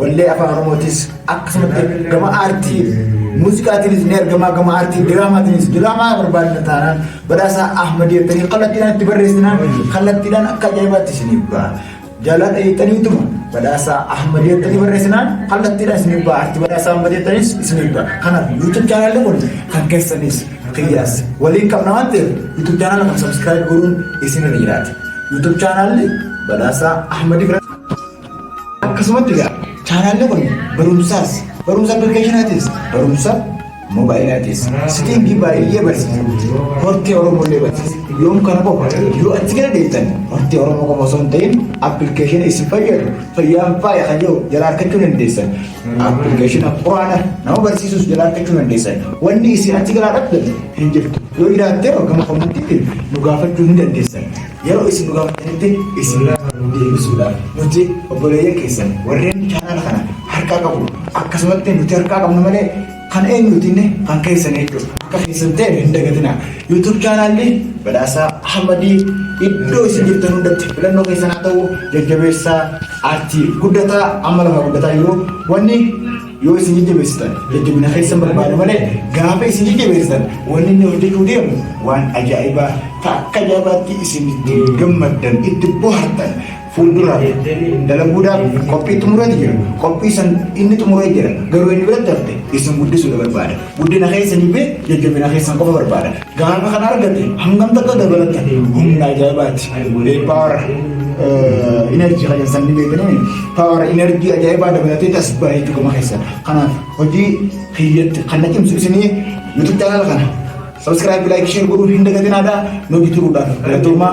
Wallee afaan Oromootis akkasumatti gama aartii muuziqaatiinis ni argama gama aartii diraamaatiinis diraamaa barbaadna taanaan badhaasa Ahmad jettanii kallattiidhaan itti barreessinaan kallattiidhaan akka ajaa'ibaatti isiniif ba'a. Jaaladha jettaniituma badhaasa Ahmad jettanii barreessinaan kallattiidhaan isiniif ba'a. Aartii badhaasa Ahmad jettanis isiniif ba'a. Kanaaf YouTube chaanaalli kun kan keessanis qiyyaas waliin qabna waan ta'eef YouTube chaanaala kan subscribe godhuun isinirra jiraata. YouTube chaanaalli badhaasa Ahmad Akkasumatti egaa chaanaalli kun barumsaas barumsa appilikeeshinaatiis barumsa moobaayilaatis sitingii baay'ee barsiisa hortee oromoo illee barsiisa yoom kana qofa yoo achi gadi deemtan hortee oromoo qofa osoo hin ta'in appilikeeshina isin fayyadu fayyaan faaya kan jiru jala argachuu dandeessan appilikeeshina quraana nama barsiisus jala argachuu dandeessan wanni isin achi galaa dhabdan hin jirtu yoo jiraattee gama kommantiitiin nu gaafachuu ni dandeessan. Yeroo isin nu gaafatanitti isin irraa nu deebisuudhaaf nuti obboleeyyan keessan warreen chaanaala kana harkaa qabu akkasumatti nuti harkaa qabnu malee kan eenyuutiin kan keessan jechuudha. Akka keessan ta'e hin dagatina. YouTube chaanaalli badhaasaa Ahmadii iddoo isin jirtan hundatti filannoo keessan haa ta'u jajjabeessaa aartii guddataa amma lafa guddataa jiru wanni Yoo isin jajjabeessitan jajjabina keessan barbaada malee gaafa isin jajjabeessitan wanni inni hojjechuu deemu waan ajaa'ibaa ta'a. Akka ajaa'ibaatti isin itti gammaddan itti bohaartan fuulduraaf dalaguudhaaf qophii xumurati jira. Qophii san inni xumuree jira. Garuu inni biratti hafte isin guddisuudha barbaada. Guddina keessanii fi jajjabina keessan qofa barbaada. Gaafa kan argate hangam takka dabalata humna ajaa'ibaati. Walee paawara inerjii kan jedhan sanni beekanii paawara inerjii ajaa'ibaa dabalatee as baay'ee dhuguma keessa. Kanaaf hojii kiyyatti kan na cimsu isinii yuutuub chaanala kana sabiskiraayib laayik sheer godhuu hin dagatinaa daa nu bituudhaaf galatoomaa.